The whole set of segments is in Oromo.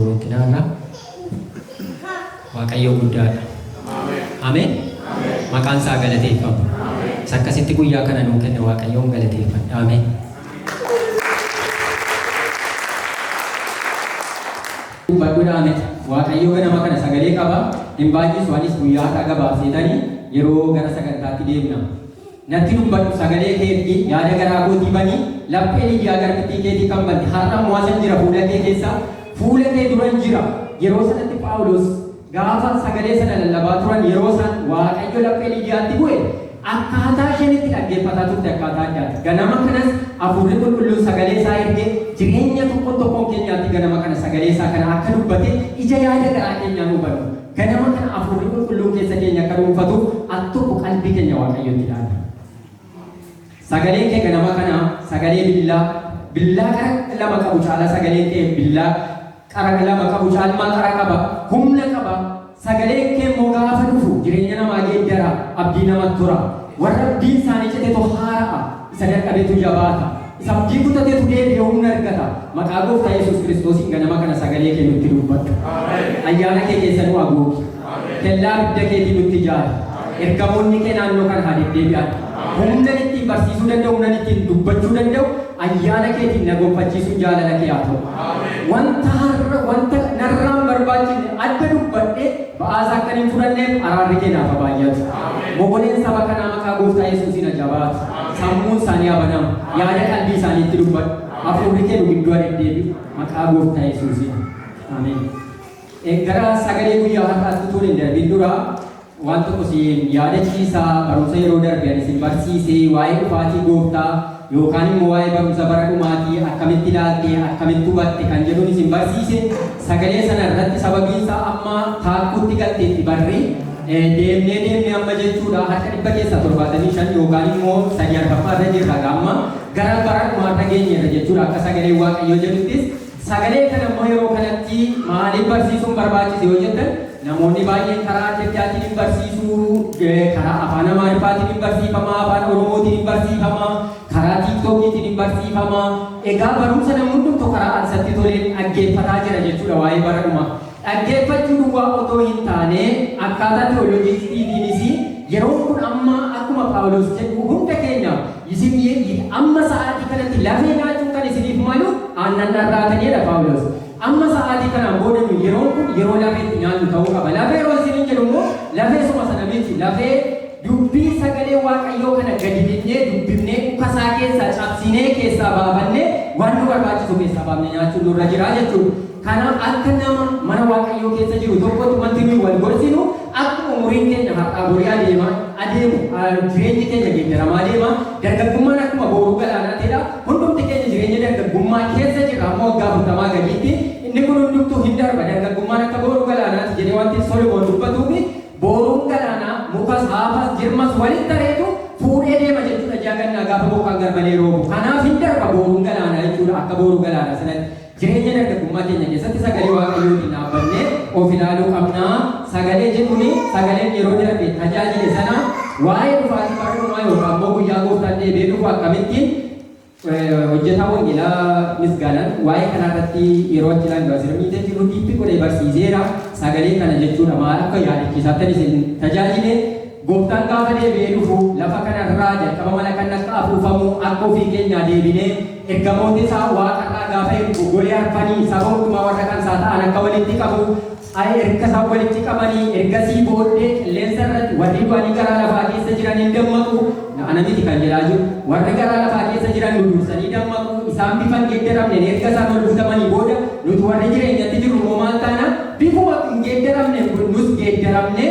Rooqinaa irraa Waaqayyoo guddaadha. Ameen! Maqaan isaa haa galateeffamu. Isa akkasitti guyyaa kana nuu kenne Waaqayyoon galateeffadha. Ameen! Dubbadhu dhaa miti. Waaqayyoo ganama kana sagalee qaba. Hin baay'isu anis guyyaa har'aa gabaabseetanii yeroo gara sagantaatti deemna. Natti dubbadhu, sagalee kee ergi, yaada garaa kootii bani, laphee Lidiyaa garbittii keetii kan bante, har'a immoo asan jira, fuula kee keessa, fuula kee duran jira. Yeroo sanatti Phaawulos gaafa sagalee sana lallabaa turan yeroo isaan Waaqayyo laphee Lidiyaatti bu'e akkaataa isheen itti dhaggeeffataa turte akkaataa addaati. Ganama kanas Hafuurri Qulqulluun sagalee isaa ergee jireenya tokkoon tokkoon keenyaatti ganama kana sagalee isaa kana akka dubbate ija yaada garaa keenyaa nuu banuuf. Ganama kana Afuurri Qulqulluun keessa keenya akka dhuunfatu al tokko qalbii keenya Waaqayyotti dhaabna. Sagaleen kee ganama kana sagalee billaa, billaa qara lama qabu caalaa sagaleen kee billaa qara lama qabu caalmaa qara qaba, humna qaba. Sagaleen kee immoo gaafa dhufu jireenya namaa geeddara, abdii namatti hora. Warra abdiin isaanii citetu haara'a. Isa dadhabetu jabaata, isa abdii kutatetu deebi'ee humna argata. Maqaa Gooftaa Yesuus Kiristoosiin ganama kana sagalee kee nutti dubbadhu. Ayyaana kee keessa nu aguugi. Kellaa abidda keetii nutti ijaari. Ergamoonni kee naannoo kana haa deddeebi'an. Humnan ittiin barsiisuu danda'u, humnan ittiin dubbachuu danda'u ayyaana keetiin na gonfachiisuun jaalala kee haa ta'u. Wanta har'a, wanta narraan barbaachifne adda dubbadhee, Ba'aasa akkan hin fudhanneef araarri kee naaf haa baay'atu. Mogoleen saba kanaa maqaa gooftaa Yesuusiin haa jabaatu. Sammuun isaanii haa banamu. Yaada qalbii isaaniitti dubbadhu. Hafuurri kee nu gidduu haa deddeebi'u. Maqaa gooftaa Yesuusiin. Ameen. Eh, Gara sagalee guyyaa har'aatti utuun hin darbin dura waan tokko siin yaadachiisa barumsa yeroo darbe ani isin barsiise waa'ee dhufaatii gooftaa Yookaan immoo waa'ee barumsa bara dhumaatii akkamitti ilaalte, akkamitti hubatte kan jedhuun isin barsiise, sagalee sana irratti sababiin isaa amma taakkuutti galteetti barri, deemnee deemnee amma jechuudha harka 175 yookaan immoo sadii arfaffaa irra jirra amma gara bara dhumaarra geenyeerra jechuudha akka sagalee waaqayyoo jedhuttis Sagalee kana immoo yeroo kanatti maaliif barsiisuun barbaachise yoo jettan, namoonni baay'een karaa adda addaatiin hin barsiisu, karaa Afaan Amaariffaatiin hin barsiifama, Afaan Oromootiin hin barsiifama, karaa Tiiktookiitiin hin barsiifama. Egaa barumsa namni hundumtuu karaa isatti toleen dhaggeeffataa jira jechuudha waa'ee bara dhumaa. Dhaggeeffachuu duwwaa otoo hin taane akkaataa tiyooloojiistiitiinis yeroon kun amma akkuma Phaawulos jedhu hunda keenyaaf Isin amma sa'aatii kanatti lafee nyaachuun kan isiniif malu aannan dharraatani jedha Phaawulos. Amma sa'aatii kanaan booda nuyi yeroon kun yeroo lafee itti nyaannu ta'uu qaba. Lafee yeroo isiniin jedhu immoo lafee suma sana miti. Lafee dubbii sagalee Waaqayyoo kana gadi dhiqnee dubbifnee dhuka isaa keessaa cabsinee keessaa baafannee waan nu barbaachisu keessaa baafne nyaachuun nurra jira jechuudha. Kanaaf akka nama mana Waaqayyoo keessa jiru tokkotti wanti nuyi wal gorsinu akkuma umuriin keenya har'aa borii adeema adeemu jireenyi keenya geeddaramaa deema dargaggummaan akkuma booruu galaanaa ta'edha hundumti keenya jireenya dargaggummaa keessa jirra amma waggaa afurtamaa gadiitti inni kun hundumtuu hin darba dargaggummaan akka booruu galaanaati jedhee wanti Solomoon dubbatuufi booruun galaanaa mukas haafas jirmas walitti tareetu fuudhee deema jechuudha ji'a gannaa gaafa bokkaan garmalee roobu kanaaf hin darba booruun galaanaa jechuudha akka booruu galaanaa sanatti Jireenya dargaggummaa keenya keessatti sagalee Waaqayyootiin dhaabbannee of ilaaluu qabna. Sagalee jedhuun sagaleen yeroo darbe tajaajile sana waa'ee dhufaatii bara dhumaa yookaan immoo guyyaa gooftaan deebi'ee dhufu akkamitti hojjetaa wangeelaa misgaanan waa'ee kanaa irratti yeroo achi ilaalu Baasira Miitee jiru diippi godhee barsiiseera. Sagalee kana jechuudha maal akka yaadachiisaatti isin tajaajile Gooftaan gaafa deebi'ee dhufu lafa kana irraa jalqaba mana kanni akka afuufamu harka ofii keenyaa deebinee ergamoota isaa waaqa irraa gaafa ergu golee arfanii saba hundumaa warra kan isaa ta'an akka walitti qabu I erga isaan walitti qabanii ergasii booddee qilleensa irratti warri du'anii garaa lafaa keessa jiran hin dammaqu na ana miti kan jedhaa jiru warri garaa lafaa keessa jiran nu dursanii dammaqu isaan bifa hin geeddaramneen erga isaan ol dhuftamanii booda nuti warri jireenyatti jirru immoo maal taana bifuma hin geeddaramneen kun nus geeddaramnee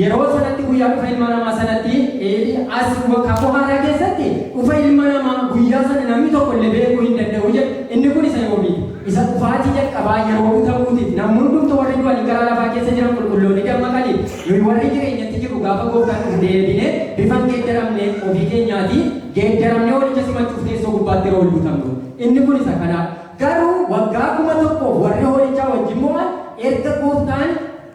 Yeroo sanatti guyyaa dhufa ilma namaa sanatti, ee, as wa- kakuu haaraa keessatti dhufa ilma namaa guyyaa sana namni tokko illee beekuu hin danda'u jedhe. Inni kun isa yoomii? Isa dhufaatii jalqabaa yeroo butamuutiif namni hundumtu warri du'anii karaa lafaa keessa jiran qulqulloonni dammaqanii nuyi warri jireenyatti jirru gaafa gooftaan dhufu deebinee bifa hin geeddaramne ofii keenyaatii geeddaramnee walicha simachuuf teessoo gubbaatti yeroo ol butamnu. Inni kun isa kanaa. Garuu waggaa kuma tokkoof warri hoolichaa wajjin mo'an erga gooftaan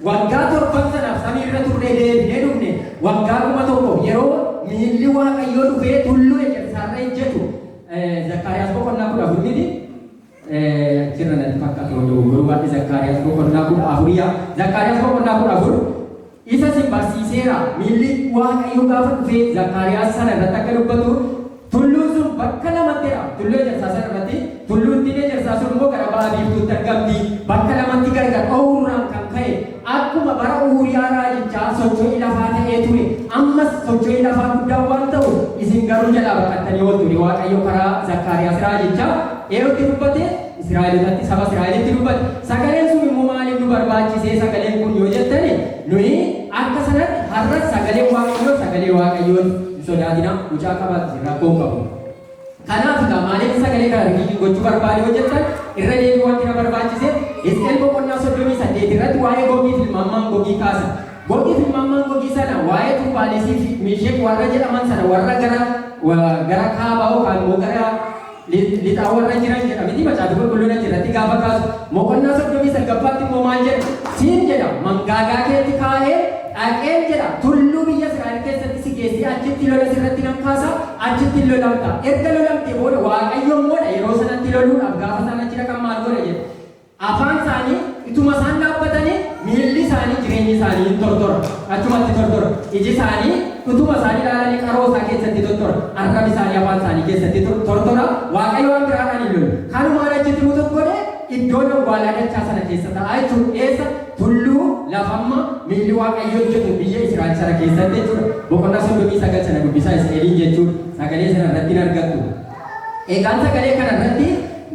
Waggaa torban sanaaf samii irra turree deebinee dhufne waggaa kuma tokko yeroo miilli Waaqayyoo dhufee tulluu ejersaa irra ejjetu Zakkaariyaas boqonnaa kudha afur miti jirra natti fakkaatu yoo dogoggoruu baadhe Zakkaariyaas boqonnaa kudha afur yaa Zakkaariyaas boqonnaa kudha afur isa sin barsiiseera miilli Waaqayyoo gaafa dhufee Zakkaariyaas sana irratti akka dubbatu Tulluun sun bakka lamatti hiraama. Tulluu Ejersaa sana irratti tulluuttiin Ejersaa sun immoo gara ba'a biiftuutti argamti. Bakka lamatti gargar ba'uu irraan kan ka'e akkuma bara Uuriyaa raajichaa socho'ii lafaa ta'ee ture ammas socho'ii lafaa guddaa waan ta'u isin garuu jalaa baqattanii ooltu jedhe Waaqayyo karaa Zakkaariyaas raajicha eerutti dubbate Israa'elotatti saba Israa'elitti dubbate. Sagaleen sun immoo maaliif nu barbaachisee sagaleen kun yoo jettani nuyi akka sanatti har'a sagaleen Waaqayyoo sagalee Waaqayyooti. hin sodaatina mucaa qabaati isin rakkoo hin qabu kanaaf egaa maaliif sagalee kana riviidiin gochuu barbaade yoo jettan irra deebii wanti na barbaachise Hisqeel boqonnaa soddomii saddeet irratti waa'ee gogii fi mammaan gogii kaasa gogii fi mammaan gogii sana waa'ee tubbaaleesii fi miisheek warra jedhaman sana warra gara wa- gara kaabaa yookaan immoo gara lixaa warra jiran jedha miti macaafi qulqulluun achi irratti gaafa kaasu moqonnaa soddomii salgaffaatti immoo maal jedha siin jedha mangaagaa keetti kaa'ee dhaqeen jedha tulluu biyya Israa'el keessatti si geessee achitti lola sirratti nan kaasa achitti lolamta erga lolamtee booda waaqayyo immoo yeroo sanatti loluudhaaf gaafa isaan achi dhaqan maal godha jedha Afaan isaanii ituma isaan dhaabbatanii miilli isaanii jireenyi isaanii hin tortora. Achumatti tortora. Iji isaanii utuma isaan ilaalanii qaroo isaa keessatti tortora. Arrabi isaanii afaan isaanii keessatti tor- tortora. Waaqayyo waan biraadhaan hin lolu. Kanumaan achitti mutuuf godhee iddoon awwaalaa dachaa sana keessa ta'a jechuudha. Eessa? Tulluu lafamma miilli Waaqayyo hojjetu biyya Israa'el sana keessatti jechuudha. Boqonnaa 39 sana dubbisaa Isqeeliin jechuudha. Sagalee sana irratti hin argattu. Egaan sagalee kana irratti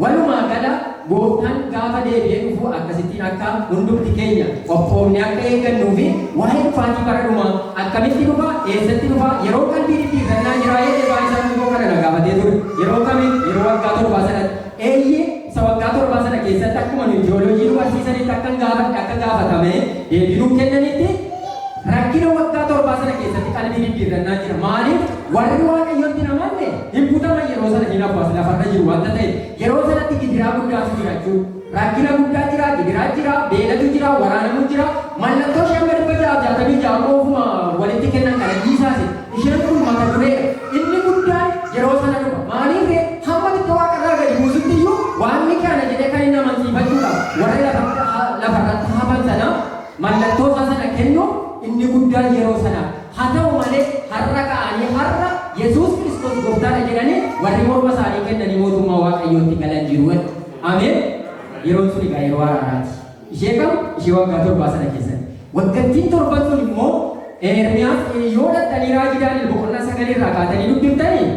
walumaa gala Gooftaan gaafa deebi'ee dhufu akkasittiin akka hundumti keenya qophoofnee akka eeggannuu fi waa'ee dhufaatii bara dhumaa, akkamitti dhufa, eessatti dhufa, yeroon qalbii dhidhiifannaa jiraa jedhee Baayisaan Gugoo kana na gaafatee ture. Yeroo kami? Yeroo waggaa torbaa sanatti. Eeyyee, isa waggaa torbaa sana keessatti akkuma nuyi tiyooloojii nu barsiisanitti akkan gaafadhe akka gaafatame deebii nuuf kennanitti rakkina waggaa torbaa sana keessatti qalbii dhidhiirrannaa jira. Maaliif? Warri Waaqayyotti hin amanne, Hin butaman yeroo sana hin hafu as lafarra jiru wanta ta'eef. Yeroo sanatti gidiraa guddaatu jira jechuudha. Rakkina guddaa jira, gidiraa jira, beelatu jira, waraanamu jira. Mallattoo ishee amma 666 immoo ofuma walitti kennan kana dhiisaasi. Isheen kun mata dureedha. Inni guddaan yeroo sana dhufa. Maaliif ree? Hamma xiqqoo waaqarraa gadi buusutti iyyuu waaqni kana jedhee kan inni amansiifachuudhaaf warra lafa, lafarratti hafan sanaaf mallattoo isaa sana kennuuf inni guddaan yeroo sanaa. Haa ta'u malee, har'a ka'anii har'a Yesuus Kiristoos Gooftaa dha jedhanii warri morma isaanii kennanii mootummaa Waaqayyootti galan jiru. Ameen! Yeroon sun egaa yeroo araaraa ti. Ishee kam? Ishee waggaa torbaa sana keessatti. Waggattiin torban sun immoo Eermiyaas yoo dhaqxanii raajii Daani'el boqonnaa 9 irraa kaatanii dubbiftanii,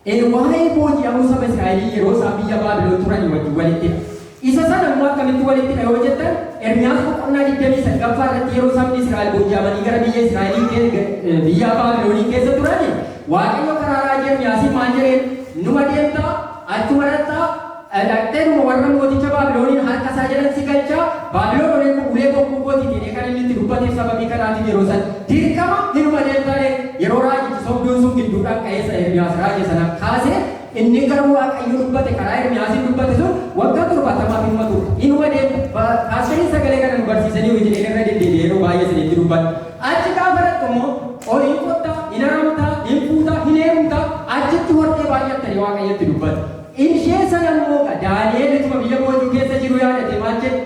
N waa'ee booji'amuu saba Israa'elii yeroo isaan biyya Baabilon turanii wajjin walitti dha. Isa sana immoo akkamitti walitti dha yoo jettan, Ermiyaas boqonnaa 29ffaa irratti yeroo sabni Israa'el booji'amanii gara biyya Israa'elii ke- ga- eh, biyyaa Baabilonii keessa turani, Waaqayyo karaa raajii Ermiyaasiin maal jedheen? Numa deemtaa, achuma dhaqxaa, Dhaqxeetuma warra mooticha Baabiloniin harka isaa jala si galcha, Baabilon oneen kun ulee bokkuu koo ti jedhee kan inni itti dubbateef sababii kanaatiif yeroo san dirqama hinuma deemta ree? Yeroo raajichi sobduun sun gidduudhaan ka'ee sila Ermiyaas raaje sana kaase, inni garuu Waaqayyo dubbate karaa Ermiyaasiin dubbate sun waggaa torbaatamaaf hinuma turta, hinuma deemta. Pa, Paastariin sagalee kana nu barsiisaniiru jedheen irra deddeebi'ee yeroo baay'ee isinitti dubbadha. Achi gaafa dhaqxu immoo ol hin qotta, hin haramta, hin fuuta, hin heerumta, achitti hortee baay'atta jedhee Waaqayyo itti dubbate. In shee sana immoo ga Daani'eel utuma biyya boojuu keessa jiruu yaadatee maal jedhe?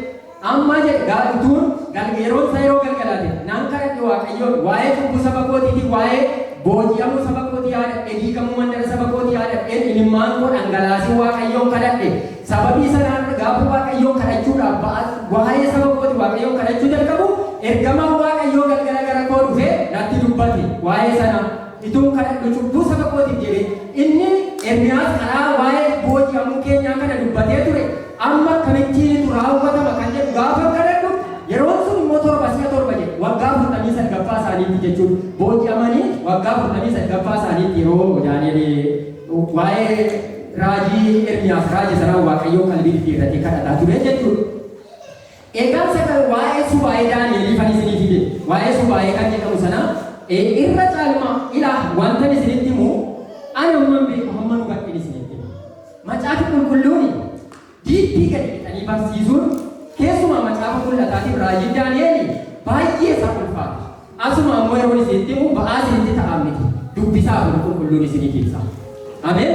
Amma jedhe ga utuun gal yeroon isaa yeroo galgalaa ta'e, nan kadhadhe Waaqayyoon, waa'ee cubbuu saba kootiitii, waa'ee booji'amuu saba kootii yaadadhee, diigamuu mandara saba kootii yaadadheen imimmaan koo dhangalaaseen Waaqayyoon kadhadhe. Sababii sanaan gaafa Waaqayyoon kadhachuudhaaf ba'a waa'ee saba kootii Waaqayyoon kadhachuu jalqabu ergamaan Waaqayyoo galgala gara koo dhufee natti dubbate. Waa'ee sanaa. Ituun kadhadhu cubbuu saba kootiif jedhee. Inni, Ermiyaas, karaa waa'ee booji'amuu keenyaa kana dubbatee ture, amma akkamittiinitu raawwatama kan jedhu gaafan kadhadhu, yeroon sun immoo torba si'a torba jedhe, waggaa afurtamii sadgaffaa isaaniitti jechuudha. Booji'amanii waggaa afurtamii sadgaffaa isaaniitti yeroo Daani'el waa'ee raajii Ermiyaas raaje sanaa Waaqayyoon qalbii diddiirratee kadhataa ture jechuudha. Egaan sakan waa'ee subaa'ee Daani'eliifan isinii fide, waa'ee subaa'ee kan jedhamu sana, ee, irra caalmaa, ilaah, wantan isinitti himu, an hamman beeku hamman hubadhen isinitti hima. Macaafi Qulqulluuni diippii gadi lixanii barsiisuun, keessumaa macaafa mul'ataatiif raajiin Daani'eli baay'ee isaan ulfaata. Asuma ammoo yeroon isinitti himu ba'aa isinitti ta'aa miti. Dubbisaa Hafuurri Qulqulluun isiniif ibsa. Ameen.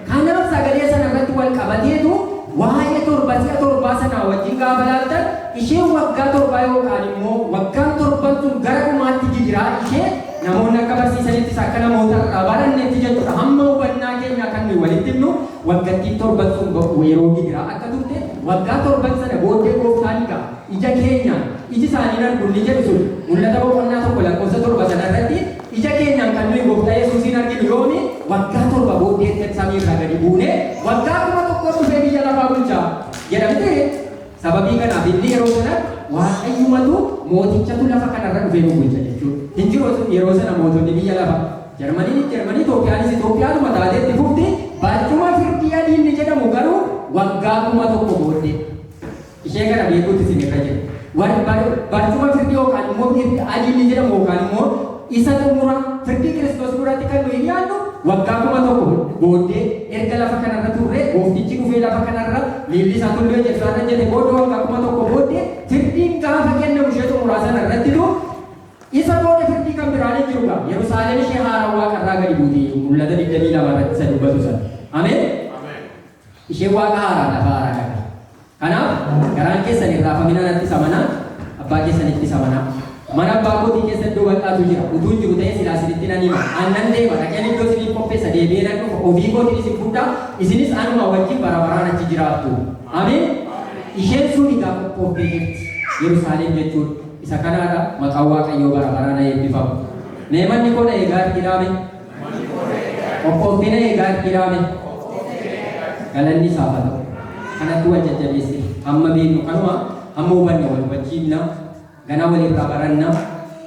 Kanaaf sagalee sana irratti wal qabateetu waa'ee torba si'a torbaa sanaa wajjin gaafa laaltan isheen waggaa torbaa yookaan immoo waggaan torban sun gara dhumaatti gidiraa ishee namoonni akka barsiisanittis akka namoota irraa barannetti jechuudha hamma hubannaa keenyaa kan nuyi walitti himnu waggattiin torban sun ba'u yeroo gidiraa akka turte waggaa torban sana booddee gooftaan egaa ija keenyaan, iji isaanii hin argu inni jedhu sun Mul'ata boqonnaa 1 lakkoofsa 7 sana irratti ija keenyaan kan nuyi gooftaa Yesuusiin arginu yoomi? Waggaa torba booddee erga samii irraa gadi buunee waggaa kuma tokkoof dhufee biyya lafaa bulcha jedha mitiree? Sababii kanaaf inni yeroo sanatti Waaqayyumatu mootichatu lafa kana irra dhufee nu bulcha jechuudha. Hin jiru yeroo sana mootonni biyya lafa. Jarmaniinis Jarmanii, Itoophiyaanis Itoophiyaadhuma taatee itti fufti. Barcuma firdii adii inni jedhamu garuu waggaa kuma tokko booddee. ishee kana beekuutu isin irra jira. Warri bar, barcuma firdii yookaan immoo mirga adii inni jedhamu yookaan immoo isa xumura firdii Kiristoos duratti kan nuyi dhiyaannu waggaa kuma tokko booddee erga lafa kanarra turree gooftichi dhufee lafa kanarra miilli isaa tulluu ejersaa irra jete booda waggaa kuma tokko booddee firdiin gaafa kennamu ishee xumuraa sana irrattitu isa booda firdii kan biraan hin jiru qaba. Yerusaalem ishee haaraa waaqarraa gadi buutee mul'ata 22 irratti isa dubbatu sana. Ameen. Isheen Waaqa haaraan lafa haaraa qabdi. Kanaaf, garaan keessan hin raafamin anattis amanaa, Abbaa keessanittis amanaa. Mana Abbaa kootii keessa iddoo bal'aatu jira. Utuun jiru ta'ee silaa isinitti nan hima. An nan deema, dhaqeen iddoo isiniif qopheessa, deebi'ee nan dhufa, ofii kootiin isin fudhaa, isinis anumaa wajjin bara baraan achi jiraattu. Ameen! Isheen sun egaa qophooftee jirti. Yerusaalem jechuun isa kanaadha. Maqaan Waaqayyoo bara baraan haa eebbifamu. Mee manni koo na eegaa arginaame. Qophoofteena eegaa dhiiraa mee. Galanni isaaf haa ta'u. Kanatu wal jajjabeesse. Hamma beeknu kanuma, hamma hubanne wal hubachiifna, ganaa wal irraa baranna.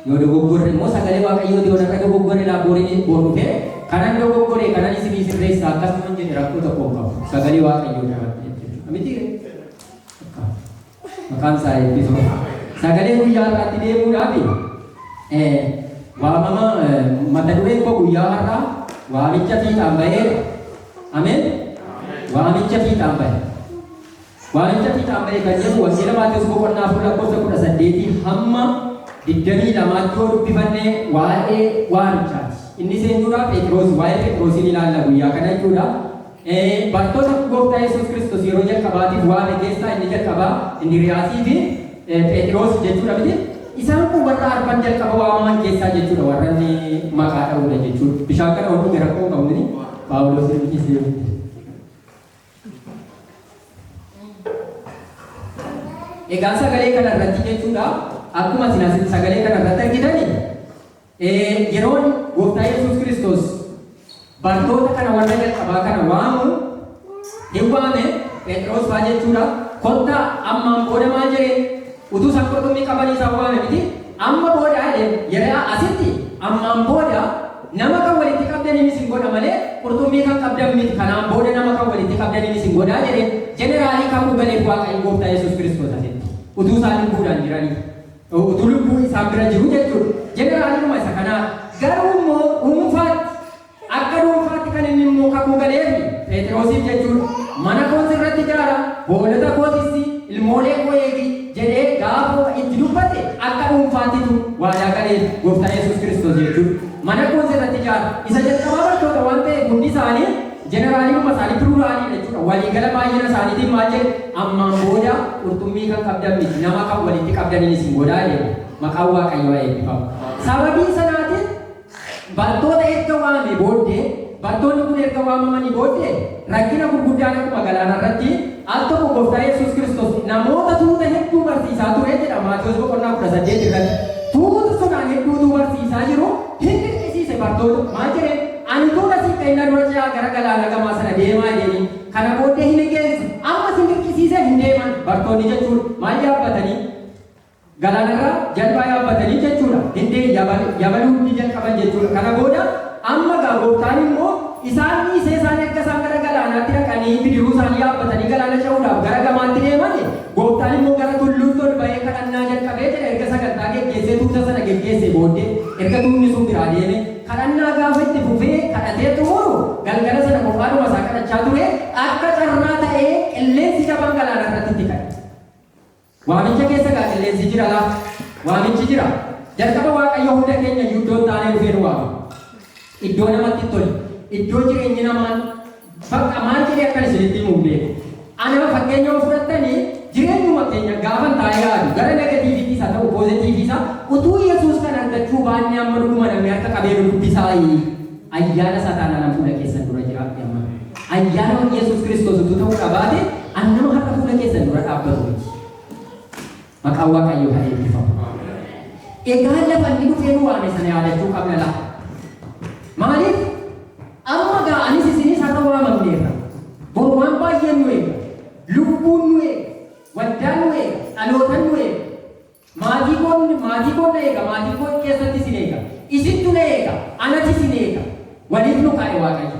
Yoo dogoggorre immoo sagalee Waaqayyooti yoo narra dogoggore laa borii bor dhufee kanan dogoggore kanan isinii sirreessa akkasuman jedhe rakkoo tokko hin qabu. Sagalee Waaqayyoo irraa waan ta'eef jechuudha. Mitiiree? Akkaa. Maqaan isaa eebbifamu. Sagalee guyyaa har'aatti deemuudhaafi eh, waamama eh, mata dureen koo guyyaa har'aa waamicha fiixaan baheera. Ameen. Waamicha fiixaan bahe. Waamicha fiixaan bahe kan jedhu wangeela Maatewos boqonnaa afur lakkoofsa kudha saddeetii hamma digdamii lamaatti yoo dubbifanne waa'ee waamichaati. Inni seenuudhaa Pheexiroos waa'ee Pheexiroosiin ilaalla guyyaa kana jechuudha. Ee, bartoota Gooftaa Yesuus Kiristoos yeroo jalqabaatiif waame keessaa inni jalqabaa Indiriyaasii fi eh, Pheexiroosi jechuudha miti. Isaan kun warra arfan jalqaba waamaman keessaa jechuudha warra inni maqaa dha'uudha jechuudha. Bishaan kana ofuun gara koo qabu inni Phaawuloos inni dhiisee yoo ta'e. Egaa sagalee kana irratti jechuudha akkuma isin asitti sagalee kana irratti argitani Ee, yeroon Gooftaa Yesuus Kiristoos bartoota kana warra jalqabaa kana waamu hin waame, Pheexiroos fa'aa jechuudha. Kottaa ammaan booda maal jedheen? Utuu isaan qurxummii qabanii isaan waame miti. Amma booda jedheen yeroo asitti ammaan booda nama kan walitti qabdaniin isin godha malee qurxummii kan qabdan miti. Kanaan booda nama kan walitti qabdaniin isin godhaa jedheen jeneraalii kakuu galeef Waaqayyo Gooftaa Yesuus Kiristoos asitti utuu isaan lubbuudhaan jiranii. utuu lubbuu isaan bira jiruu jechuudha. Jeneraalidhuma isa kanaa. Garuu immoo dhuunfaatti akka dhuunfaatti kan inni immoo kakuu galeefi Pheexiroosiif jechuudha. Mana koos irratti ijaara, hoolota koo tisi, ilmoolee koo eegi jedhee gaafa itti dubbate akka dhuunfaattitu waadaa galeef gooftaa Yesuus Kiristoos jechuudha. Mana koos irratti ijaara. Isa jalqabaa bartoota waan ta'eef hundi isaanii Jeneraalidhuma isaanii, pluralii dha jechuudha, waliigala baay'ina isaaniitiin maal jedhu, Ammaan booda qurxummii kan qabdan miti, nama kan walitti qabdaniin isin godha jedhu. Maqaan Waaqayyoo haa eebbifamu. Sababii sanaatiin bartoota erga waamee booddee, bartoonni kun erga waamamanii booddee, rakkina gurguddaan akkuma galaana irratti, al tokko Gooftaa Yesuus Kiristoos namoota tuuta hedduu barsiisaa ture jedha Maatewos boqonnaa 18 irratti. Tuuta sanaan hedduu utuu barsiisaa jiru hin dirqisiise bartoota. Maal jedheen? Ani utuun asii ka'ee nan dura ce'aa gara galaana gamaa sana deemaa jedheen. Kana booddee hin liqeessa. Amma isin dirqisiisee hin deeman. Bartoonni jechuun maal yaabbatanii? Galaana irra jalbaa yaabbatanii jechuu dha. Hin dee yabal, yabaluu ni jalqaban jechuu dha. Kana booda amma egaa Gooftaan immoo isaan dhiisee isaan erga isaan gara galaanaatti dhaqanii bidiruu isaanii yaabbatanii galaana ce'uudhaaf gara gamaatti deeman, Gooftaan immoo gara tulluutti ol ba'ee kadhannaa jalqabe jedha. Erga sagantaa geggeessee tuuta sana geggeessee booddee, erga tuutni sun biraa deeme, Kadhannaa gaafa itti fufee kadhatee xumuru galgala sana kophaadhuma isaa kadhachaa ture, akka carraa ta'ee qilleensi jabaan galaana irratti itti ka'e. Waamicha keessa egaa qilleensi jira laa? Waamichi jira. Jalqaba Waaqayyo hunda keenya iyyuu iddoo hin taanee dhufee nu waame. Iddoo namatti hin tolle, iddoo jireenyi namaan. Bakka maal jedhee akkan isinitti himu hin beeku. Anaa fakkeenya yoo fudhattani jireenyuma keenya gaafan taa'ee yaadu gara negatiiviittis haa ta'u poozetiivii isaa utuu Yesuus kan argachuu baannee amma dhuguma namni harka qabee nu dubbisaayi? Ayyaana isaa taanaan an fuula keessan dura jira i amma ayyaana Yesuus Kiristoos utuu ta'uudhaa baate an nama har'a fuula keessan dura dhaabbatu miti. Maqaan Waaqayyoo haa eebbifamu. Egaa lafa inni dhufee nu waame sana yaadachuu qabna laa. Maaliif? Amma gaa anis isinis har'a waamamneerra. Boru waan baay'een nu eega. Lubbuun nu eega. Waldaan nu eega. Dhalootan nu eega. Maatii koon maatii koon na eega. Maatii koo keessatti isin eega. Isintu na eega. Anati isin eega. Waliif nu kaa'e Waaqayyo.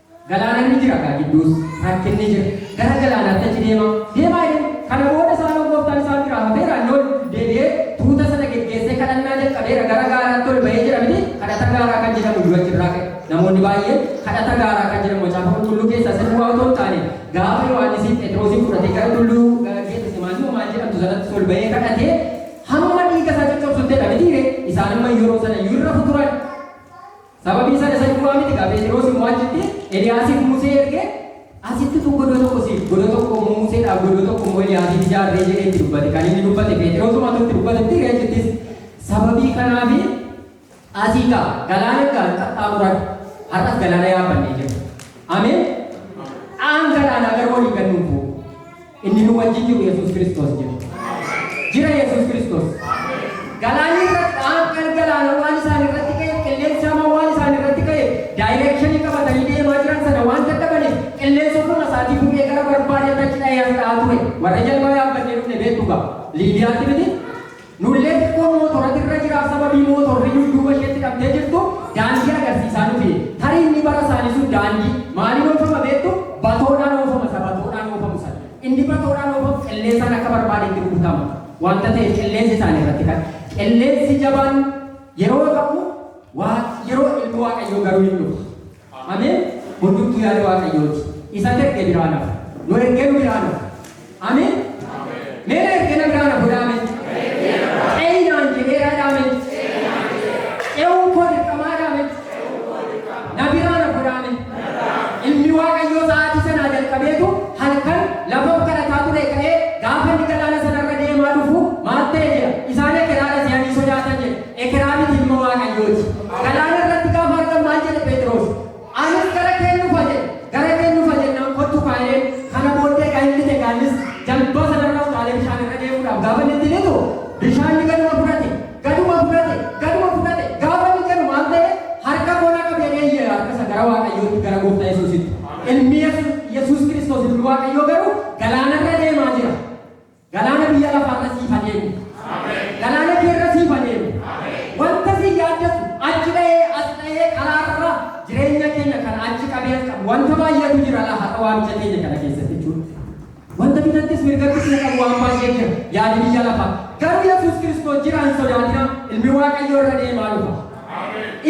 Galaana ni jira gaa gidduus rakkinni jira. Gara galaanaatti achi deemaa, deemaa jedhe. Kana booda isaanoo gooftaan isaan biraa hafeera, inni ol deebi'ee tuuta sana geggeessee kadhannaa jalqabeera. Gara gaaraatti ol ba'ee jedha miti, kadhata gaaraa kan jedhamu iyyuu achi irraa ka'e. Namoonni baay'een kadhata gaaraa kan jedhamu macaafa qulqulluu keessaa isa duwwaa otoo hin taane gaafa Yohaannisiin Phexroosiin fudhatee gara tulluu Geetesemaanii moo maal jedhamtu sanattis ol ba'ee kadhatee hamma dhiiga isaa coccobsutti jedha mitiiree isaan amma yeroo sana iyyuu hin rafu turan. Sababii sana isa duwwaa miti kaa Pheexiroos immoo achitti Eliyaasiif Musee ergee asitti utuu godoo tokko siif godoo tokko immoo Museedhaaf godoo tokko immoo Eliyaasiif ijaarree jedhee itti dubbate kan inni dubbate Pheexiroosumatu itti dubbatetti ree achittis sababii kanaaf asii kaa galaana kaa qaxxaamuran har'as galaana yaabbannee jirra ameen dhaan galaanaa garuu waliin gad nuuf bu'u. Inni nu wajjin jiru Yesuus Kiristoos jira. Jira Yesuus Kiristoos. Galaanni irratti dhaabban galaana waan isaan irratti ka'e qilleensi hamaa waan isaan irratti ka'e daayireekshinii qabatanii deemaa jiran sana waan dadhabaniif qilleensi ofuma isaatii fuudhee gara barbaadeetti achi dhahee as dhahaa ture. Warra jalbaa yaabbannee dhufne beektu ga'a. Liibiyaatti miti Nullee xiqqoo mootorati irra jiraa sababii mootorri dudduuba isheetti dhabdee jirtu daandii agarsiisaa nu fide. Tarii inni bara isaanii sun daandii maaliin oofama beektu? Batoodhaan oofama isa batoodhaan oofamu sana. Inni batoodhaan oofamu qilleensaan akka barbaadetti rukutama waanta ta'eef qilleensi isaanii irratti kan qilleensi jabaan yeroo ka'u waa yeroo ilmi waaqayyoo garuu hin dhufa. Ameen hundumtuu yaada waaqayyooti isan erge biraa nafa nu ergee nu biraa nafa Ameen mee na erge na biraa nafa godha Ameen ce'i naan jedheera dha Ameen ce'uun koo dirqamaa dha Ameen na biraa na godha Ameen ilmi waaqayyoo sa'aatii sanaa jalqabeetu halkan lafa kadhataa ture ka'ee gaafa inni galaana sanarra deemaa dhufu maal ta'e jedha isaan ekeraa dha si'anii sodaatan jedha Ekeraa miti ilma Waaqayyooti. Galaana irratti gaafa argan maal jedhe Pheexiroos? Anis gara keen dhufa jedhe. Gara keen dhufa jennaan kottu kaa jedheen. Kana booddee egaa inni te gaanis jambaa sanarra utaalee bishaan irra deemuudhaaf gaafa inni itti dhiitu bishaan ni gaduma fudhate. Gaduma fudhate. Gaduma fudhate. Gaafa inni jedhu maal ta'e? Harka koo na qabe jedhee iyye harka isa gara Waaqayyootti gara gooftaa Yesuusitti. Ilmi Yesuus Yesuus Kiristoos ilmi Waaqayyoo garuu galaana irra deemaa jira. Galaana biyya lafaa irra siif adeemu. Galaana kee irra siif adeemu. Wanta si yaaddatu achi dhahee as dhahee karaa irra jireenya keenya kan achi qabee as qabu wanta baay'eetu jira laa haqa waamicha keenya kana keessatti jechuudha. Wanta bitattis mirgattis na qabu waan baay'ee jira yaadi biyya lafaa. Garuu Yesuus Kiristoos jira hin sodaatina ilmi Waaqayyoo irra deemaa dhufa.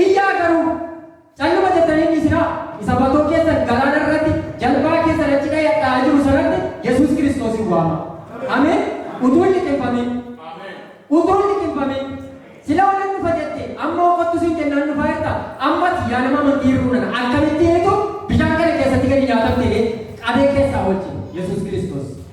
Iyyaa garuu Calluma jettanii hin dhiisinaa, isa batoo keessan galaana irratti, jalbaa keessan achi dha'ee hadhaa'aa jiru sanatti Yesuus Kiristoosiin waamaa. Ameen! Utuu hin liqimfamiin. Utuu hin liqimfamiin. Silaa nan dhufa jette, amma hoo kottu siin jennaan dhufaa jirta. Amma ati yaa nama amantii hir'uu nana, akkamittiinitu bishaan kana keessatti gadi nyaatamte ree? Qabee keessaa oolchi, Yesuus Kiristoos.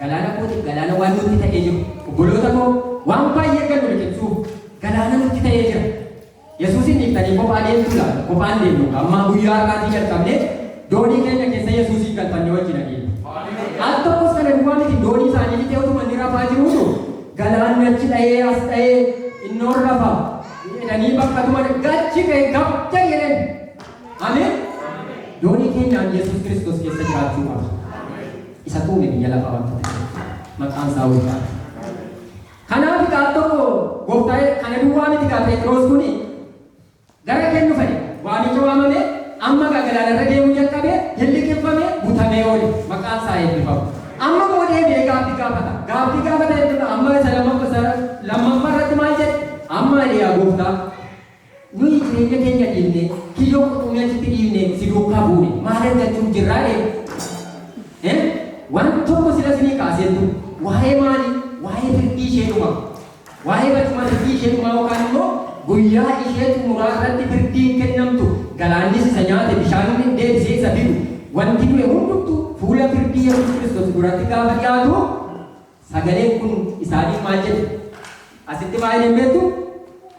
Galaana kootiif galaana waan nutti ta'ee jiru. Obboloota koo, waan baay'ee gad nu liqimsuuf galaana nutti ta'ee jira. Yesuusiin dhiiftanii kophaa deemtuu laata? Kophaa hin deemnu egaa. Ammaa guyyaa har'aatii jalqabnee doonii keenya keessa Yesuusiin galfannee wajjin adeemna. Al tokkos kana duwwaa miti doonii isaanii bitee utuma inni rafaa jiruutu galaanni achi dha'ee as dha'ee innoon rafa jedhanii bakka tuman gachi ka'e gabda jedhan. Ameen. Doonii keenyaan Yesuus Kiristoos keessa jiraachuu qaba. Isatu uume biyya lafaa wanta ta'eef. Maqaan isaa ulfaadha. Kanaaf gaaf tokko gooftaa kana duwwaa miti gaa Pheexiroos kuni gara kennu fa'e waamicha waamame amma gaa galaanarra deemuu jalqabe hin liqimfame butamee oole maqaan isaa eebbifamu. Amma immoo deebi'ee gaaffii gaafata. Gaaffii gaafata jechuudha amma isa lammaffaa irratti maal jedhe? Amma ani yaa gooftaa Nuyi jireenya keenya dhiifnee, kiyyoo qurxummii achitti dhiifnee si duukaa buune maal argachuuf jirra ree? Ee? Waan tokko sila isinii kaasee hin ture. Waa'ee maalii? Waa'ee firdii ishee dhumaa. Waa'ee barcuma firdii ishee dhumaa yookaan immoo guyyaa ishee xumuraa irratti firdiin kennamtu, galaannis isa nyaate, bishaanonni deebisee isa fidu, wanti du'e hundumtuu fuula firdii Yesuus Kiristoos duratti gaafa dhiyaatu, Sagaleen kun isaaniif maal jedhe? Asitti maal jedheen beektu?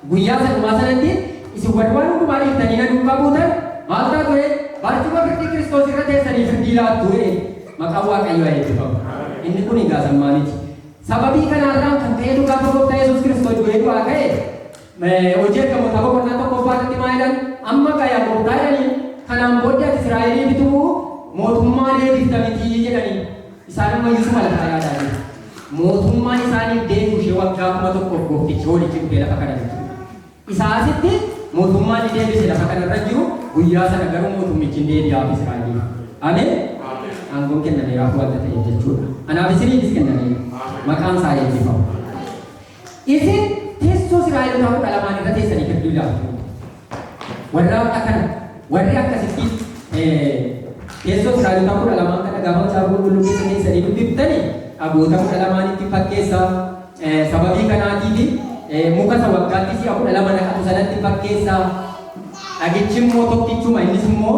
Guyyaa isa dhumaa sanatti isin warri waan hundumaa dhiiftanii na duukaa buutan maal taatu jedhe? Barcuma firdii Kiristoos irra teessanii firdii laattu jedhe. Maqaan Waaqayyoo haa eebbifamu. Inni kun egaa sammaa miti. Sababii kanaarraan kan ka'e dhugaa Gooftaa Yesuus Kiristoos du'ee du'aa ka'e Hojii Ergamootaa boqonnaa tokkoffaa irratti maa jedhan? Amma gaa yaa gooftaa jedhaniin, kanaan booddee ati Israa'elii bituu mootummaa deebifta mitii jedhaniin. Isaan amma iyyuu suma lafaa yaadaa jiru. Mootummaan isaaniif deebi'u ishee waggaa kuma tokkoof gooftichi hoolichi dhufee lafa kana bitu. Isaa asitti mootummaan ni deebise lafa kana irra jiru guyyaa sana garuu mootummichi hin deebi'aaf Israa'eliif. Ameen. Aangoon kennameeraaf wanta ta'eef jechuudha. Anaaf isiniifis kennameera. Maqaan isaa eebbifamu. Isin tessoo Sira'elotaa kudha lamaan irra teessanii firduu ilaaltu. Warraa akkana warri akkasitti tessoo Sira'elotaa kudha lamaan kana gaafa macaafa qulqulluu keessa teessanii dubbiftani dhagoota kudha lamaanitti fakkeessa. Sababii kanaatiif muka isa waggaatti si'a kudha lama naqatu sanatti fakkeessa. Dhagichi immoo tokkichuma innis immoo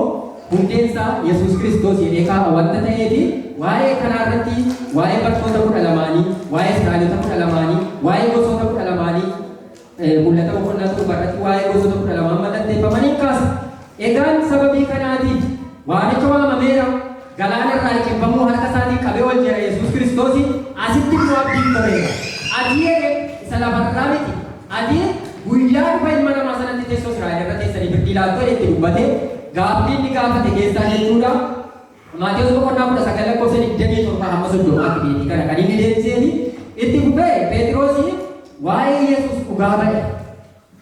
Hundeen isaa Yesuus Kiristoos jedhee kaa'a wanta ta'eefi, waa'ee kanaa irratti waa'ee bartoota kudha lamaanii, waa'ee Israa'elota kudha lamaanii, waa'ee gosoota kudha lamaanii, Mul'ata boqonnaa 7 irratti waa'ee gosoota kudha lamaan mallatteeffaman in kaasa. Egaan sababii kanaatiif waamicha waamameera, galaana irraa liqimfamuu harka isaatiin qabee ol jedha Yesuus Kiristoos, asitti immoo abdiin ta'eera. Ati jedhe isa lafa irraa miti, ati guyyaa dhufa ilma namaa sanatti teessoo Israa'el irra teessanii firdii laattu jedhee itti dubbate. Gaaffii inni gaafate keessaa jechuudha. Maatewos boqonnaa 19 lakkoofsa 27 hamma 30 tti deebii kana kan inni deebiseefi itti fufee Pheexiroosi waa'ee Yesuus dhugaa ba'e.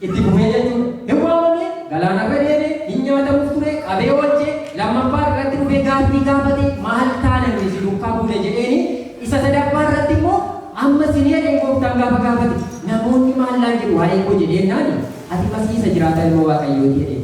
Itti fufee jechuudha. Hin waamamne, galaanarra deeme, hin nyaatamuuf ture, qabee oolche, lammaffaa irratti dhufee gaaffii gaafate maal taana nuyi si duukaa buune jedheeni isa sadaffaa irratti immoo amma sin jedheen gooftaan gaafa gaafate namoonni maal naan jedhu waa'ee koo jedheennaani ati masii isa jiraataa ilma waaqayyooti jedheen.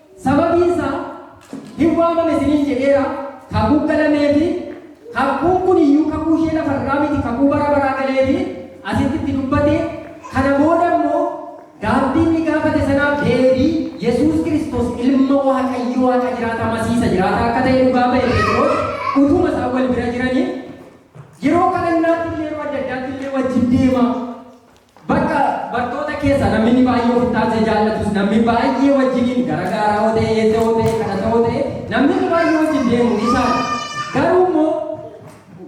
Sababiin isaa, hin waamame isiniin jedheera, kakuu galamee fi kakuun kun iyyuu kakuu ishee lafa irraa miti, kakuu bara baraa galee fi asitti itti dubbate, kana booda immoo gaabbii inni gaafate sanaaf deebii Yesuus Kiristoos ilma Waaqayyo Waaqa jiraataa Masii isa jiraataa akka ta'e dhugaa ba'e Pheexiroos utuma isaan wal bira jiranii yeroo kadhannaatti illee yeroo adda addaatti illee wajjin deema. Bakka bartoota keessa namini baay'ee of itti aansee jaallatus, namni baay'ee wajjiniin gara gaaraa yoo ta'e, eessa yoo ta'e, kadhata yoo ta'e, namnini baay'ee wajjin deemuun isaa dha. Garuu immoo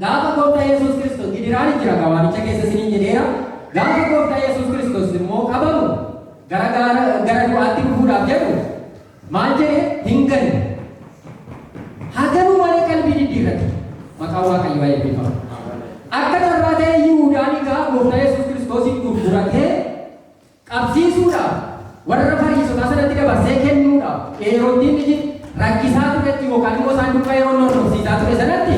gaafa Gooftaa Yesuus Kiristoos gidiraan hin jira egaa waamicha keessa isiniin jedheera. Gaafa Gooftaa Yesuus Kiristoos immoo qabamu gara gaara gara du'aatti dhufuudhaaf jedhu Maal jedhe hin galle. Haa galuu malee qalbii diddiirrate. Maqaan Waaqayyoo haa eebbifamu. Akka carraa ta'ee Yihuudaan egaa Gooftaa Yesuus Kiristoosiin gurguratee qabsiisuudhaaf warra Fariisotaa sanatti dabarsee kennuudhaaf Heerooddiin rakkisaa turetti yookaan immoo isaan duukaa yeroo inni hordofsiisaa ture sanatti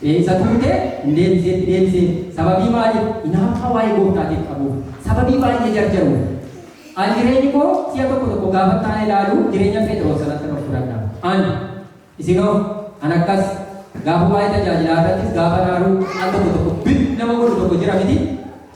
Seensa turte hin deebiseetti deebisee, sababii maaliif? Inaaffaa waa'ee Gooftaatiif qabuuf, sababii baay'ee jarjaruuf. An jireenyi koo si'a tokko tokko gaafa itti aana ilaalu jireenya Pheexiroos sanattan of fudhadha. An. Isinoo? An akkas. Gaafa waa'ee tajaajilaa irrattis gaafan aaru, an tokko tokko bib nama godhu tokko jira mitii?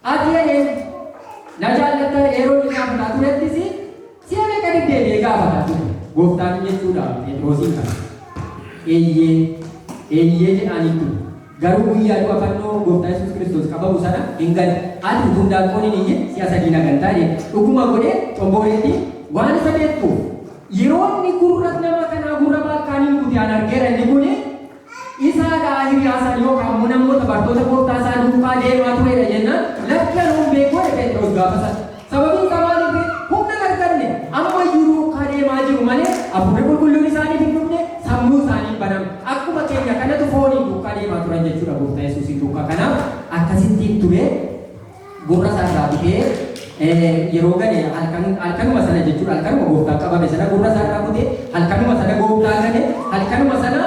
Ati ena eenyuti? Na jaallatta? Heeroodis gaafataa turettis si'a meeqa deddeebi'ee gaafataa ture. Gooftaan jechuudhaan Phexrosiin kana. Eeyyee, eeyyee jedhaaniin ture. Garuu guyyaa du'a fannoo Gooftaa Yesuus Kiristoos qabamu sana hin gane. Ati utuu hindaaqqoon hin iyyin si'a sadii na gantaa jedhe. Dhuguma godhee xombooreettiin waan isa beektuuf. Yeroo inni gurra nama kanaa gurra baalkaaniin kute an argeera inni kun Isaa dhaa hiriyaa san yookaan mo namoota bartoota gooftaa isaa duukaa deemaa turee dha jennaan lakki anuu hin beeku jedhe Pheexiroos gaafa san. Sababiin isaa maaliif ree? Humna hin arganne. Amma iyyuu duukaa deemaa jiru malee Hafuurri Qulqulluun isaaniif hin dhufne, sammuun isaanii hin banamne. Akkuma keenya kanatu fooniin duukaa deemaa turan jechuu dha Gooftaa Yesuusiin duukaa kanaaf akkasittiin ture. gurra isaa irraa kutee eh, yeroo gale halkan halkanuma sana jechuudha halkanuma gooftaan qabame sana gurra isaa irraa kutee halkanuma sana gooftaa gale halkanuma sana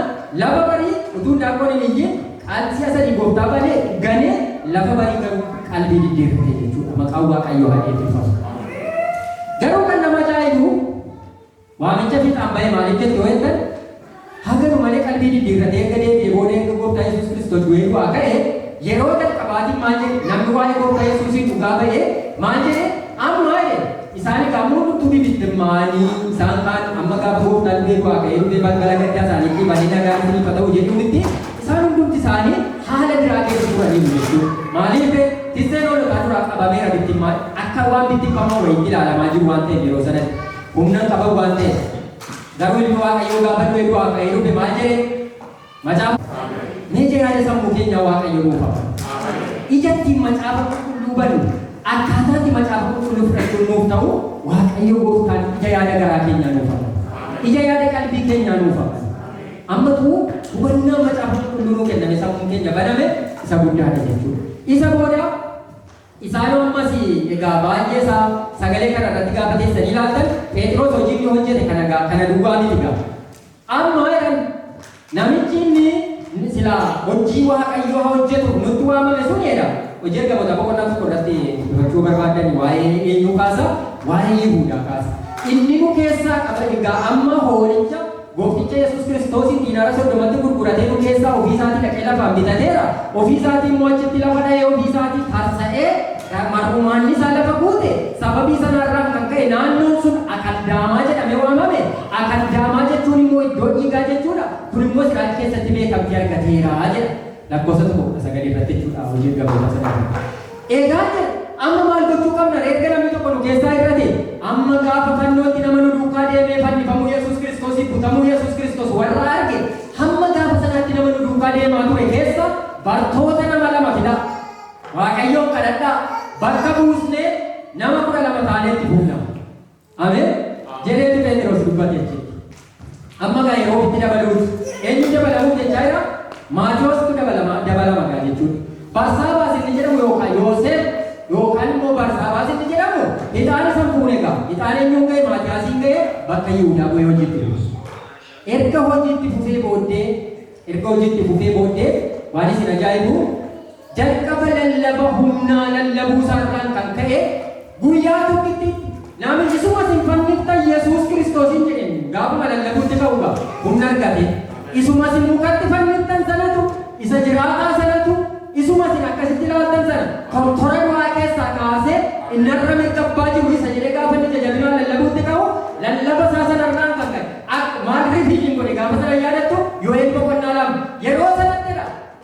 lafa barii utuu daakkoon hin iyyin qalsii asanii gooftaa balee galee lafa barii garuu qalbii diddeerfite jechuudha maqaan waaqayyoo haa eebbifamu. Garuu kan nama ajaa'ibu Waamicha fiixaan bahe maaliif jette yoo jettan, haa galu malee qalbii diddiirratee erga deebi'ee booda erga Gooftaa Yesuus Kiristoos du'ee du'aa ka'e yeroo jalqabaatiif maal jedhe? Namni waa'ee Gooftaa Yesuusiin dhugaa ba'e maal jedhe? Amma jedhe isaan egaa hundumtuu bibittimmaa'anii isaan kaan amma gaafa Gooftaan du'ee du'aa ka'ee dhufee balbala gaddaa isaaniitii banee nagaan isiniif haa ta'u jedhuu mitti isaan hundumti isaanii haala biraa keessa turaniiru jechuudha. Maaliif tikseen hoolotaa duraa qabameera bittimmaa'e akka waan bittimfamaa wayiitti ilaalamaa jiru waan ta'eef yeroo sanatti. humna hin qaban waan ta'eef. Garuu ilmi Waaqayyoo gaafa du'e du'aa ka'ee dhufe maal jedhe? Macaafa mee jiraata sammuu keenyaa Waaqayyo nuuf hafa. Ija ittiin macaafa qulqulluu bannu akkaataa itti macaafa qulqulluu fudhachuun nuuf ta'u Waaqayyo gooftaan ija yaada garaa keenyaa nuuf hafa. Ija yaada qalbii keenyaa nuuf hafa. Ammatu hubannaa macaafa qulqulluu nuu kenname sammuun keenya baname isa guddaadha jechuudha. Isa booda Isaan ammas, Egaa baay'ee isaa sagalee kana irratti gaafa teessanii ilaaltan, Pheexiroos hojii inni hojjete kana egaa kana duwwaa miti egaa. Amma jedhan, namichi inni silaa hojii Waaqayyoo haa hojjetuuf nutti waamame suni jedha. Hojii Ergamootaa boqonnaa tokko irratti dubbachuu barbaaddan waa'ee eenyuu kaasa? Waa'ee Yihuudaa kaasa. Inni nu keessaa qaba egaa amma hoolicha Goofticha Yesuus Kiristoosiin diinaara soddomatti gurguratee nu keessaa ofii isaatii dhaqee lafaan bitateera, ofii isaatii immoo achitti lafa dha'ee ofii isaatii tarsa'ee ga, mar'umaanni isaa lafa guute, sababii sanaa irraan kan ka'e naannoon sun Akaldaamaa jedhamee waamame, Akaldaamaa jechuun immoo iddoo dhiigaa jechuu dha, kun immoo Israa'el keessatti beekamtii argateera jedha. Lakkoofsa 1, 19 irratti jechuu dha, Hojii Ergamootaa 9 irratti. Egaa jedhe, amma maal gochuu qabna ree? Erga namni tokko nu keessaa hir'atee, amma gaafa fannootti nama nu duukaa deemee fannifamuu Yesuus Kiristoosii, butamuu Yesuus Kiristoos warra arge, hamma gaafa sanaatti nama nu duukaa deemaa ture keessaa bartoota nama lama fidaa. Waaqayyoon kadhadhaa, bakka buusnee nama 12 taanee itti fufna. Ameen. Jedheeti Pheexiroos dubbate jechuudha. Amma gaa yeroo ofitti dabaluuti. Eenyu dabalamuuf jechaa jira? Maatiyoosatu dabalama dabalama gaa jechuudha. Barsaabaas inni jedhamu yookaan Yooseef yookaan immoo Barsaabaas inni jedhamu hixaana san fuune gaa. Hixaana eenyuun ga'e Maatiyaasiin ga'e bakka Yihudaa bu'ee hojiitti fufe. Erga hojiitti fufee booddee erga hojiitti fufee booddee waan isin ajaa'ibu Jalqaba lallaba humnaa lallabuu isaa irraan kan ka'e, guyyaa tokkitti Namichi isuma isin fanniftan Yesuus Kiristoosiin jedheen gaafuma lallabuutti ka'u egaa humna argate. Isuma isin mukatti fanniftan sanatu, isa jiraataa sanatu, isuma isin akkasitti ilaaltan sana tortora du'aa keessaa kaasee inni har'a mirga Abbaa jiru isa jedhee gaafa inni ija jabinaan lallabuutti ka'u, lallaba isaa sana irraan kan ka'e, maal rifiidiin godhe gaafa sana hin yaadattuu? Yoheel boqonnaa 2. Yeroo sanatti dha.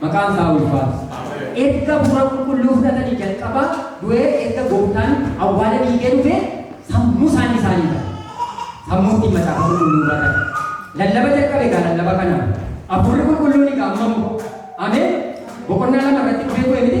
Maqaan isaa haa ulfaatu. Erga Hafuura Qulqulluu fudhatanii jalqabaa du'ee erga Gooftaan awwaala diigee dhufee sammuu isaanii isaanii bane. Sammuu ittiin Macaafa Qulqulluu hubatan. Lallaba jalqabe egaa lallaba kanaan. Hafuurri Qulqulluun egaa amma immoo Ameen boqonnaa lama irratti dhufee bu'e miti.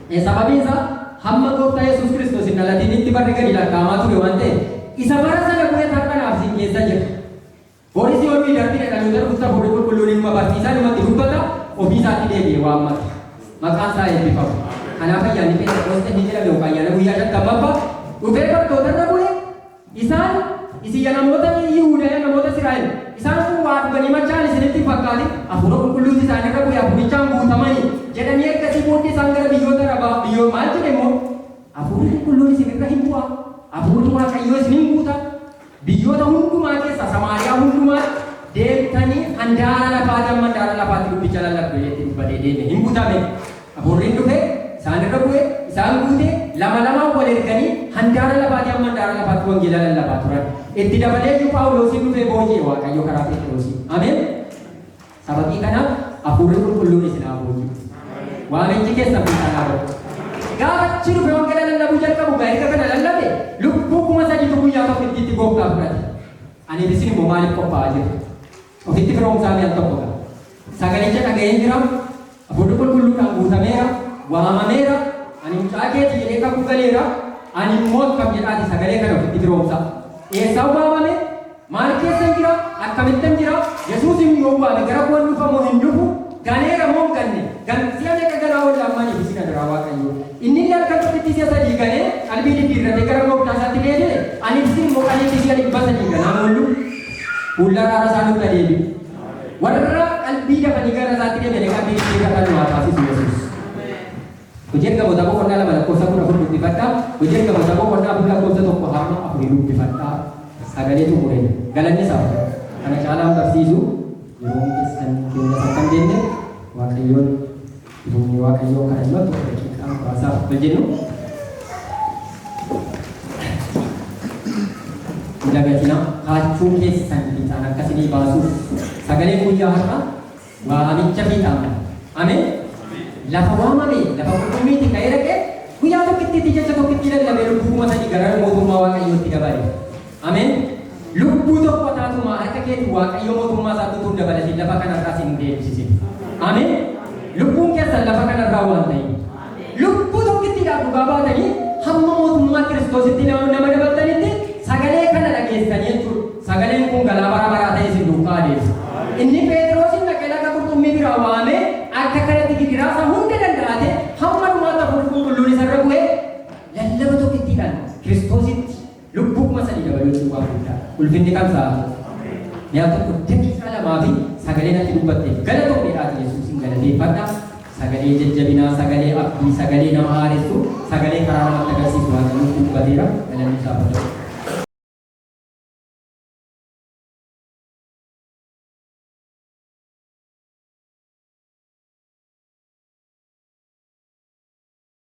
E. Sababiin isaa hamma Gooftaa Yesuus Kiristoos hin dhalatinitti barri gadi lakkaa'amaa ture waan ta'eef, isa bara sana bu'etu har'a naaf isin keessa jira. Boris yoo nuyi darbine dhaloota dhufutti Hafuurri Qulqulluun inuma barsiisa, inumatti dubbata, ofii isaatti deebi'ee waammata. Maqaan isaa eebbifamu. Kanaaf ayyaanni Pheenxeqoosxee inni jedhame yookaan ayyaana guyyaa shantammaffaa dhufee bartoota irra bu'e, Isaan, Isin ya namoota Yihuuda, ya namoota Israa'el, isaan kun waa dhuganii machaa'an isinitti hin fakkaatin? Hafuura Qulqulluutu isaanii irra bu'e, hafuurichaan guutamani jedhanii ergasii booddee isaan gara biyyoota Arabaa, biyyo, maal jedhe immoo? Hafuurri Qulqulluun isin irra in bu'a, hafuurri Waaqayyoo isin in guuta, biyyoota hundumaa keessaa, Samaariyaa hundumaatti deemtanii handaara lafaa ti hamma handaara lafaa ti dubbicha lallabdu jedhee itti dubbatee deeme, in gutame. Hafuurriin dhufe, isaan irra bu'e, isaan guute, lama lamaan wal erganii handaara lafaatii hamma handaara lafaatti wangeela lallabaa turan. Itti dabalee iyyuu Phaawuloosiin dhufee booji'e Waaqayyo karaa Pheexiroosiin. Ameen! Sababii kanaaf Hafuurri Qulqulluun isin haa booji'u. Waamichi keessan fiixaan haa ba'u. Gaafa achi dhufe wangeela lallabuu jalqabu egaa erga kana lallabe lubbuu kuma sadiitu guyyaa tokko itti itti gooftaa fudhate. Ani isin immoo maaliif qophaa'aa jirtu? Ofitti firoomsaa mi'a tokko ga'a. Sagalicha dhaga'een jira, Hafuurri Qulqulluudhaan guutameera, waamameera, Ani mucaa kee ti jedhee kakuu galeera, ani immoo akkam jedhaati sagalee kana ofitti firoomsa. Eessaan waamame? Maal keessan jira? Akkamittan jira? Yesuusin yoon waame gara koo in dhufa moo hin dhufu? Galeera moo hin ganne? Gan, si'a meeqa galaa oolla amma aniif isin adaraa Waaqayyoo. Inni illee halkan tokkittii si'a sadii galee qalbii diddiirratee gara Gooftaa isaatti deebi'e, aniif isin immoo qaliitii si'a dhibba sadii ganaan oollu? Fuulla araara isaa nutti haa deebi'u. Warra qalbii dafanii gara isaatti deebi'anii qalbii ishee kadhan nu haa taasisu Yesuus. Hojii Ergamootaa boqonnaa lama lakkoofsa kudha afur dubbifadha. Hojii Ergamootaa boqonnaa afur lakkoofsa tokko hamma afurii dubbifadha. Sagalee xumureen galanni isaaf ta'u. Kana caalaan barsiisu yeroon keessan keenyas akka hin deemne Waaqayyoon Humni Waaqayyoo kadhannaa tokko daqiiqaa muraasaaf akka jennu hin dagatinaa kaachuu keessan fiixaan akka isinii baasuuf sagalee guyyaa har'a waamicha fiixaan ba'a. Ameen. Lafa waamame lafa qurxummiitti ka'ee dhaqee guyyaa tokkittiitti jecha tokkittii lallabee lubbuu kuma sadii gara mootummaa Waaqayyootti dabale. Ameen! Lubbuu tokko taatumaa harka keetiin Waaqayyo mootummaa isaatti utuu hin dabalatiin lafa kanarraa isin hin deebisisin. Ameen! Lubbuun keessan lafa kanarraa waan ta'eef. Lubbuu tokkittiidhaaf dhugaa baatanii hamma mootummaa Kiristoositti nama nama dabaltanitti sagalee kana dhageessanii jechuudha. Sagaleen kun galaa bara baraa ta'e isin duukaa adeemsa. Inni Pheexiroosin dhaqee laga qurxummii biraa waamee akka kanatti gidiraa isaa hunda danda'ate hamma dhumaatti hafuurri qulqulluun isarra bu'ee lallaba tokkittiidhaan Kiristoositti Lubbuu kuma sadii dabaluutiin waan guddaadha. Ulfinni kan isaa haa ta'u. Mi'a tokko daqiiqaa lamaa fi sagaleen ati dubbatteef galatoomi jedhaatii Yesuusiin galateeffadha. Sagalee jajjabinaa, sagalee abdii, sagalee nama haaressu, sagalee karaa namatti agarsiisu Waaqayyo nutti dubbateera. Galanni isaaf haa ta'u.